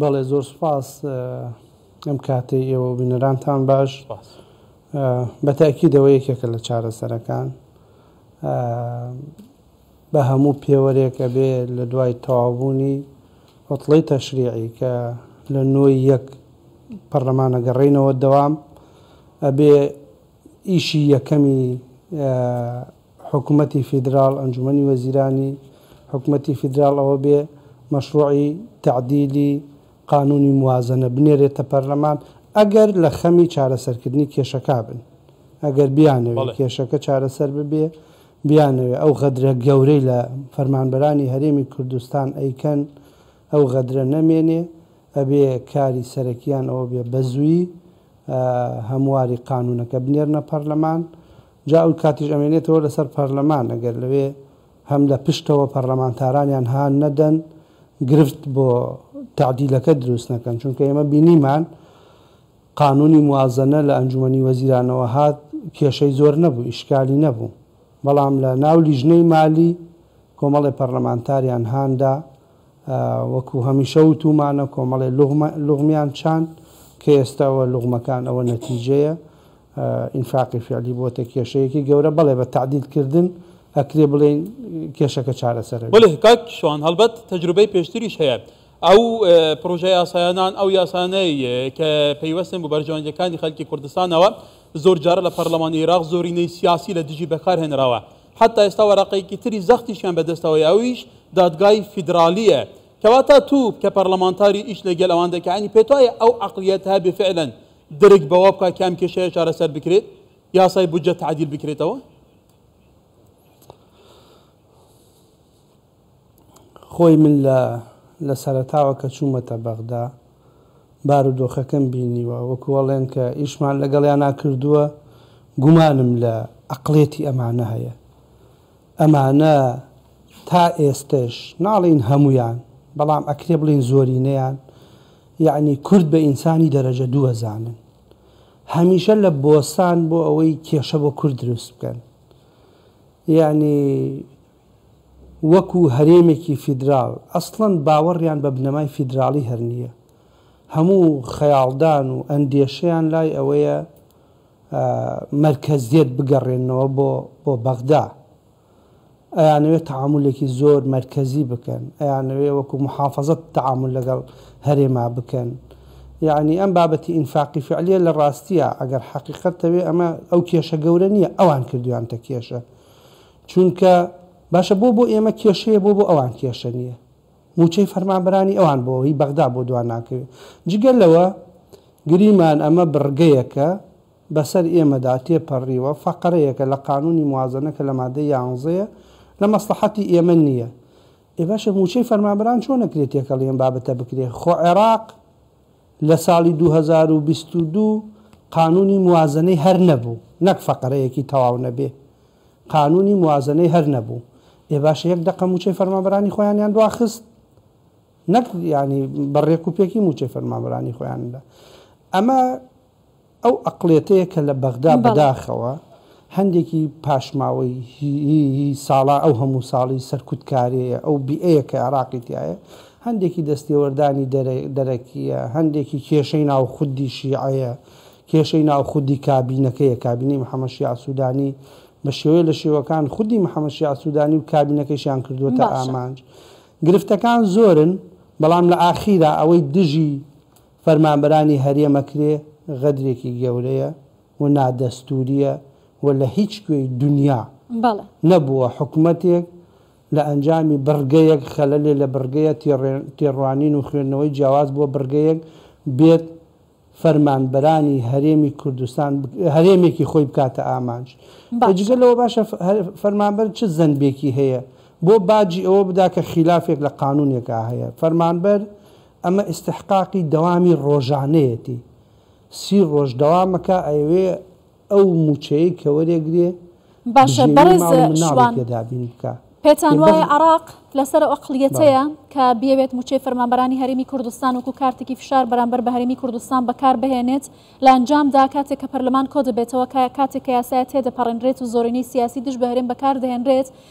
بەڵێ زۆر سوپاس ئەم کاتەی ئێوە و بینەرانتان باش بە تاکیدەوە یەکێکە لە چارەسەرەکان بە هەموو پێوەرێک ئەبێ لە دوای تەوابوونی عوتڵەی تەشریعی کە لە نۆی یەک پەرلەمانە گەڕینەوە دەوام ئەبێ ئیشی یەکەمی حکومەتی فیدراڵ، ئەنجومەنی وەزیرانی حکومەتی فیدراڵ ئەوە بێ مەشڕوعی تەعدیلی قانونی موازەنە بنێرێتە پەرلەمان ئەگەر لە خەمی چارەسەرکردنی کێشەکا بن، ئەگەر بیانەوێ کێشەکە چارەسەر ببێ، بیانەوێ ئەو غەدرە گەورەی لە فەرمانبەرانی هەرێمی کوردستان ئەیکەن ئەو غەدرە نەمێنێ، ئەبێ کاری سەرەکیان ئەوە بێ بەزووی هەمواری قانونەکە بنێرنە پەرلەمان جا ئەو کاتیش ئەمێنێتەوە لەسەر پەرلەمان ئەگەر لەوێ هەم لە پشتەوە پەرلەمانتارانیان هان نەدەن گرفت بۆ تەعدیلەکە دروست نەکەن چونکە ئێمە بینیمان قانونی موازەنە لە ئەنجومەنی وەزیرانەوە هات کێشەی زۆر نەبوو ئیشکالی نەبوو بەڵام لە ناو لیژنەی مالی کۆمەڵی پەرلەمانتاریان هاندا وەکو هەمیشە وتومانە کۆمەڵێ لوغمیان چاند کە ئێستا وە لوغمەکان ئەوە نەتیجەیە ئینفاقی فعلی بۆتە کێشەیەکی گەورە بەڵێ بە تەعدیل کردن ئەکرێ بڵێین کێشەکە چارەسەرە. بەڵێ کاک شوان هەڵبەت تەجروبەی پێشتریش هەیە ئەو پڕۆژە یاسایانان ئەو یاسانەی کە پەیوەستن بۆ بەرژەوەندیەکانی خەلکی کوردستانەوە زۆر جارە لە پەرلەمانی ئیراق زۆرینەی سیاسی لە دژی بەکار هێنراوە حەتا ئێستا وەرەقەیەکی تری زەختیشیان بەدەستەوەیە ئەویش دادگای فیدرالیە. کەواتە تو کە پەرلەمانتاری ئیش لەگەل ئەوان دەکە یانی پێتوایە ئەو عەقلیەتە هەبێ فعلەن درک بەوە بکا کە ئەم کێشەیە چارەسەر بکرێت؟ یاسای بودجە تەعدیل بکرێتەوە؟ خۆی من لە لە سەرەتاوە کە چوومەتە بەغدا بارودۆخەکەم بینیوە، وەکو ئەڵێن کە ئیشمان لەگەڵیانا کردووە، گومانم لە ئەقڵێتی ئەمانە هەیە. ئەمانە تا ئێستەش، ناڵێین هەموویان، بەڵام ئەکرێ بڵێین زۆرینەیان، یەعنی کورد بە ئینسانی دەرەجە دوو ئەزانن. هەمیشە لە بۆسان بۆ ئەوەی کێشە بۆ کورد دروست بکەن. یەعنی. وەکو هەرێمێکی فیدراڵ ئەسڵەن باوەڕیان بە بنەمای فیدراڵی هەر نییە، هەموو خەیاڵدان و ئەندێشەیان لای ئەوەیە مەرکەزیەت بگەڕێننەوە بۆ بۆ بەغدا، ئەیانەوێت تەعامولێکی زۆر مەرکەزی بکەن، ئەیانەوێت وەکو موحافەزە تەعامول لەگەڵ هەرێما بکەن، یەعنی ئەم بابەتی ئینفاقی فیعلیە لە ڕاستیا ئەگەر حەقیقەت تەوێ ئەمە ئەو کێشە گەورە نییە ئەوان کردویانتە کێشە چونکە باشە بۆ بۆ ئێمە کێشەیە بۆ بۆ ئەوان کێشە نیە موچەی فەرمانبەرانی ئەوان بۆ هی بەغدا بۆ دوا ناکەوێ جگە لەوە گریمان ئەمە بڕگەیەکە بەسەر ئێمەدا تێپەڕیوە فەقەرەیەکە لە قانونی موازەنە کە لە مادەی یانزەیە لە مەسڵەحەتی ئێمە نیە ئێ باشە موچەی فەرمانبەران چۆن ئەکرێ تێکەڵی ئەم بابەتە بکرێ خۆ عێراق لە ساڵی دوو هەزار و بیست و دوو قانوونی موازەنەی هەر نەبوو، نەک فەقەرەیەکی تەواو نەبێ، قانوونی موازەنەی هەر نەبوو، ئێ باشە یەک دەقە مووچەی فەرمانبەرانی خۆیانیان دواخست؟ نەک یانی بە ڕێک و پێکی مووچەی فەرمانبەرانی خۆیان دا. ئەمە ئەو ئەقڵیەتەیە کە لە بەغدا بە داخەوە هەندێکی پاشماوەیی ساڵا ئەو هەموو ساڵی سەرکوت کارێیە ئەو بیئەیە کە عێراقی تیایە هەندێکی دەستێوەردانی دەرەکیە هەندێکی کێشەی ناو خودی شیعەیە کێشەی ناو خودی کابینەکەیە کابینەی محمد شیاع سودانی بە شێوەیە لە شێوەکان خودی محمد شیاع سودانی و کابینەکەیشیان کردووەتە ئامانج گرفتەکان زۆرن بەڵام لە ئاخیرا ئەوەی دژی فەرمانبەرانی هەرێمەکرێ غەدرێکی گەورەیە و نادەستوریە و لە هیچ کوێی دونیا نەبووە حکومەتێک لە ئەنجامی بڕگەیەک خەلەلێ لە بڕگەیە تێڕوانین و خوێندنەوەی جیاواز بۆ بڕگەیەک بێت فەرمانبەرانی هەرێمی کوردستان هەرێمێکی خۆی بکاتە ئامانج ئەی جگە لەوە باشە فەرمانبەر چ زەنبێکی هەیە بۆ باجی ئەوە بدا کە خیلافێک لە قانونێکا هەیە فەرمانبەر ئەمە ئیستحقاقی دەوامی ڕۆژانەیەتی سی ڕۆژ دەوامەکا ئەیەوێ ئەو موچەیەی کە وەرێگرێ باشە بژێوی بەڕێز ماڵ و شوان مناڵێکێ دابین بکا پێتان یە بەغ وایە عەڕاق لەسەر ئەو بەڵێ. ئەقڵیەتەیە کە بیەوێت موچەی فەرمانبەرانی هەرێمی کوردستان وەکو کارتێکی فشار بەرامبەر بە هەرێمی کوردستان بەکار بهێنێت لە ئەنجامدا کاتێک کە پەرلەمان کۆدەبێتەوە کە کاتێک کە یاسایە تێدەپەڕێنرێت و زۆرینەی سیاسی دژ بە هەرێم بەکار دەهێنرێت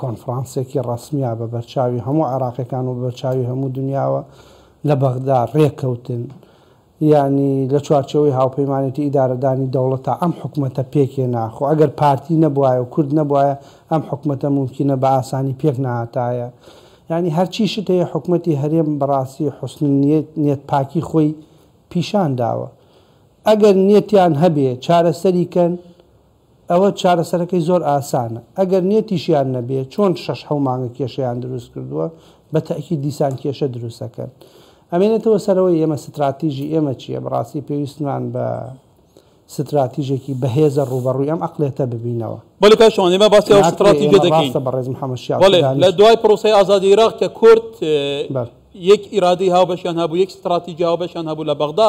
کۆنفرانسێکی ڕەسمیە بە بەرچاوی هەموو عێراقیەکان و بە بەرچاوی هەموو دونیاوە لە بەغدا ڕێککەوتن، یانی لە چوارچێوەی هاوپەیمانێتی ئیدارەدانی دەوڵەتا ئەم حکومەتە پێکهێنا، خۆ ئەگەر پارتی نەبوایە و کورد نەبوایە ئەم حکومەتە مومکینە بە ئاسانی پێک نەهاتایە، یانی هەرچی شت هەیە حکومەتی هەرێم بەڕاستی حسن نیەت، نیەت پاکی خۆی پیشان داوە، ئەگەر نیەتیان هەبێ چارەسەری کەن، ئەوە چارەسەرەکەی زۆر ئاسانە ئەگەر نێتیشیان نەبێ چۆن شەش حەو مانگە کێشەیان دروست کردووە بە تەئکید دیسان کێشە دروست ئەکەن ئەمێنێتەوە سەرەوەی ئێمە ستراتیژی ئێمە چیە بەڕاستی پێویستمان بە ستراتیژێکی بەهێزە ڕووبەڕووی ئەم عەقڵێتە ببینەوە. بەڵێ کاک شوان ئێمە باسی ئەو ناکرێ ستراتیژە ئێمە دەکەین ڕاستە بەڕێز محمد شیاع بەڵێ لە سودانی. دوای پرۆسەی ئازادی عێراق کە کورد بەر. یەک ئیرادەی هاوبەشیان هەبوو یەک ستراتیژی هاوبەشیان هەبوو لە بەغدا،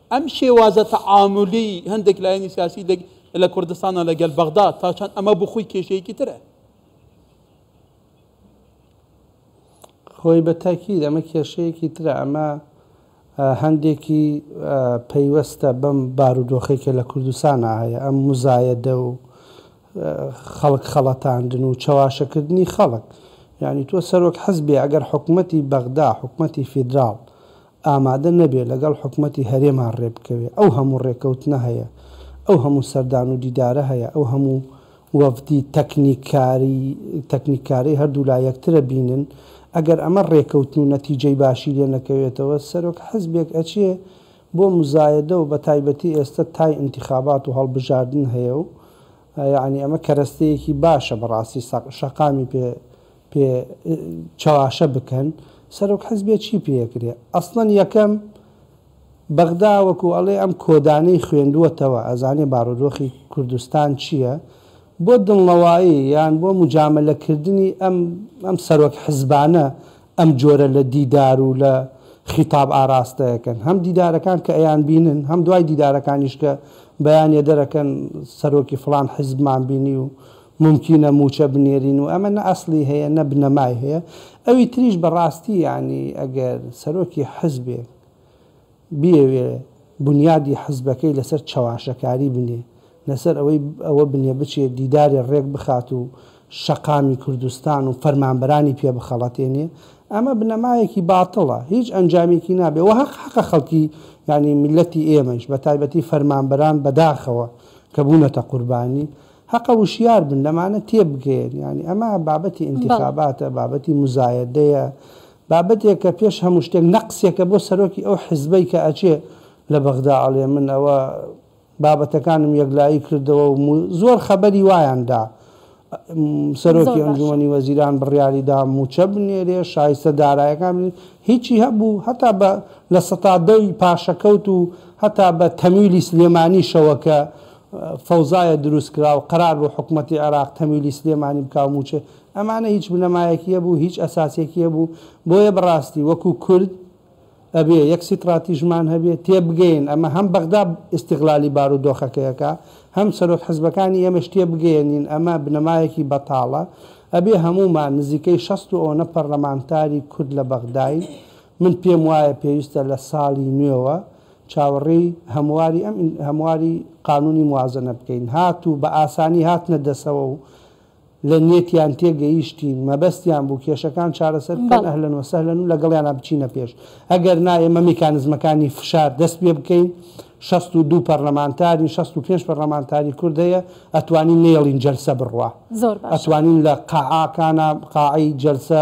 ئەم شێوازە تەعامولی هەندێک لایەنی سیاسی لە لە کوردستانە لەگەل بەغدا تا چەند ئەمە بۆ خۆی کێشەیەکی ترە. خۆی بە تاکید ئەمە کێشەیەکی ترە ئەمە هەندێکی پەیوەستە بەم بارودۆخی کە لە کوردستانا هەیە ئەم مزایەدە و خەڵک خەڵەتاندن و چەواشەکردنی خەڵک یعنی تۆ سەرۆک حزبێ ئەگەر حکومەتی بەغدا حکومەتی فیدراڵ ئامادە نەبێ لەگەڵ حکومەتی هەرێما ڕێ بکەوێ، ئەو هەموو ڕێکەوتنە هەیە، ئەو هەموو سەردان و دیدارە هەیە، ئەو هەموو وەفدی تەکنیککاری تەکنیککارەی هەردوولا یەکترە بینن، ئەگەر ئەمە ڕێکەوتن و نەتیجەی باشی لێ نەکەوێتەوە، سەرۆک حزبێک ئەچێ بۆ مزایەدە و بەتایبەتی ئێستە تای ئینتخابات و هەڵبژاردن هەیە و یەعنی ئەمە کەرەستەیەکی باشە بەڕاستی سەق شەقامی پێ پێ چەواشە بکەن سەرۆک حزبێ چی پێ ئەکرێ ئەسڵەن یەکەم بەغدا وەکو ئەڵێ ئەم کۆدانەی خوێندووەتەوە ئەزانێ بارودۆخی کوردستان چیە بۆ دڵنەوایی یان بۆ موجامەلە کردنی ئەم ئەم سەرۆک حزبانە ئەم جۆرە لە دیدار و لە خیتاب ئاراستە ئەکەن هەم دیدارەکان کە ئەیان بینن هەم دوای دیدارەکانیش کە بەیانێ دەرەکەن سەرۆکی فڵان حزبمان بینی و مومکینە موچە بنێرین و ئەمە نە ئەسڵی هەیە نە بنەمای هەیە ئەوی تریش بەڕاستی یەعنی ئەگەر سەرۆکی حزبێک بیەوێ بونیادی حزبەکەی لەسەر چەواشەکاری بنێ لەسەر ئەوەی ئەوە بنێ بچێ دیدارێ ڕێک بخات و شەقامی کوردستان و فەرمانبەرانی پێ بخەڵەتێنێ ئەمە بنەمایەکی باتڵە هیچ ئەنجامێکی نابێ وە هەق حەقە خەڵکی یەعنی میلەتی ئێمەیش بەتایبەتی فەرمانبەران بەداخەوە کە بونەتە قوربانی هەقە وشیار بن لەمانە تێبگەیەن یانی ئەمە بابەتی ئینتیخاباتە بابەتی موزایەدەیە بابەتێکە پێش هەموو شتێک نەقسێکە بۆ سەرۆکی ئەو حیزبەی کە ئەچێ لە بەغدا ئەڵێ من ئەوە بابەتەکانم یەکلایی کردەوە و زۆر خەبەری وایان دا سەرۆکی ئەنجومەنی وەزیران بڕیاری دا موچە بنێرێ شایستە دارایەکان بنێ هیچی هەبوو هەتا بە لە سەتا دەی پاشەکەوت و هەتا بە تەمیلی سلێمانی شەوەکە فەوزایە دروستکراو، قەرار بوو حکومەتی عێراق تەمویلی سلێمانی بکا و مووچە، ئەمانە هیچ بنەمایەکی هەبوو، هیچ ئەساسێکی هەبوو، بۆیە بەڕاستی وەکو کورد ئەبێ یەک سیتڕاتیژمان هەبێ، تێبگەین ئەمە هەم بەغدا ئیستیغلالی بارودۆخەکەی ئەکا، هەم سەرۆک حزبەکانی ئێمەش تێبگەیەنین ئەمە بنەمایەکی بەتاڵە، ئەبێ هەموومان نزیکەی شەست و ئۆنە پەرلەمانتاری کورد لە بەغداین، من پێموایە پێویستە لە ساڵی نوێوە، چاوەڕێی هەمواری ئەم هەمواری قانونی موازەنە بکەین هات و بە ئاسانی هاتنە دەسەوە و لە نیەتیان تێ گەیشتین مەبەستیان بوو کێشەکان چارەسەر بکەن بەڵێ. اهلا وسهلا و لەگەڵیانا بچینە پێش ئەگەر نا ئێمە میکانزمەکانی فشار دەست پێ بکەین شەست و دوو پەرلەمانتارین شەست و پێنج پەرلەمانتاری کورد هەیە ئەتوانین نەیەڵین جەلسە بڕوا زۆر باشە. ئەتوانین لە قاعاکانا قاعەی جەلسە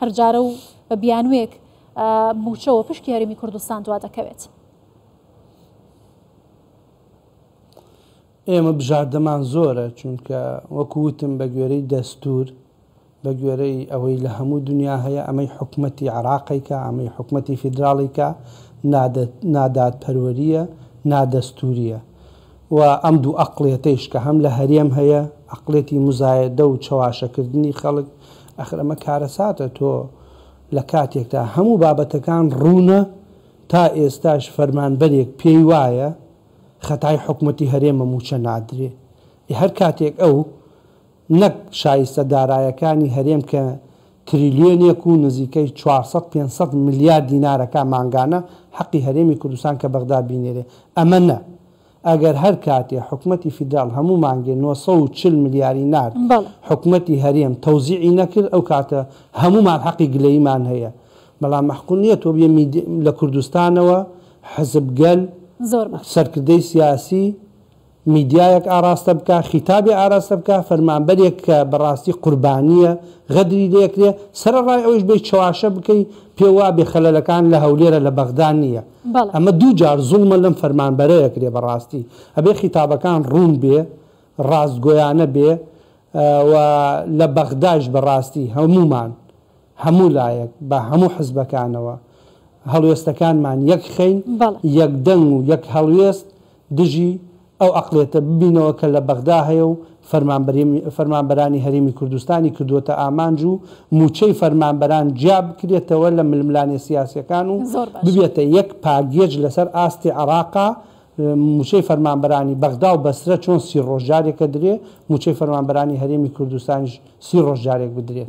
هەر جارە و بە بیانووێک مووچەوە پشکی هەرێمی کوردستان دوا دەکەوێت. ئێمە بژاردەمان زۆرە، چونکە وەکو وتم بە گوێرەی دەستوور، بە گوێرەی ئەوەی لە هەموو دنیا هەیە، ئەمەی حکومەتی عێراقی کا، ئەمەی حکومەتی فیدراڵی کا، نادادپەروەرییە، نادەستوورییە. و ئەم دوو ئەقڵیەتەیش کە هەم لە هەرێم هەیە ئەقڵیەتی موزایەدە و چەواشەکردنی خەڵک ئەخر ئەمە کارەساتە تۆ لە کاتێکتا هەموو بابەتەکان ڕوونە تا ئێستاش فەرمانبەرێک پێی وایە خەتای حکومەتی هەرێمە مووچە نادرێ ئێ هەر کاتێک ئەو نەک شایستە دارایەکانی هەرێم کە تریلیۆنێک و نزیکەی چوار سەد پێنج سەد ملیار دینارەکە مانگانە حەقی هەرێمی کوردستان کە بەغدا بینێرێ ئەمە نە ئەگەر هەر کاتێ حکومەتی فیدراڵ هەموو مانگێ نۆ سەد و چل ملیاری نارد حکومەتی هەرێم تەوزیعی نەکرد ئەو کاتە هەموومان حەقی گلەییمان هەیە بەڵام مەحقول نیە تۆ بیە میدی لە کوردستانەوە حزب گەل سەرکردەی سیاسی میدیایەک ئاراستە بکا خیتابێ ئاراستە بکا فەرمانبەرێک کە بەڕاستی قوربانیە غەدری لێکرێ سەرەڕای ئەوەیش بێی چەواشە بکەی پێ وابێ خەلەلەکان لە هەولێرە لە بەغدا نیە بەڵێ. ئەمە دوو جار زوڵمە لەم فەرمانبەرە ئەکرێ بەڕاستی ئەبێ خیتابەکان ڕوون بێ ڕاستگۆیانە بێ و لە بەغدایش بەڕاستی هەموومان هەموو لایەک بە هەموو حزبەکانەوە هەڵوێستەکانمان یەک خەین، یەک دەنگ و یەک هەڵوێست دژی ئەو عەقڵیەتە ببینەوە کە لە بەغدا هەیە و فەرمانبەرانی هەرێمی کوردستانی کردووەتە ئامانج و مووچەی فەرمانبەران جیا بکرێتەوە لە ململانێ سیاسیەکان و ببێتە یەک پاگێج لەسەر ئاستی عێڕاقا مووچەی فەرمانبەرانی بەغدا و بەسرە چۆن سی ڕۆژ جارێک ئەدرێ مووچەی فەرمانبەرانی هەرێمی کوردستانیش سی ڕۆژ جارێک بدرێت.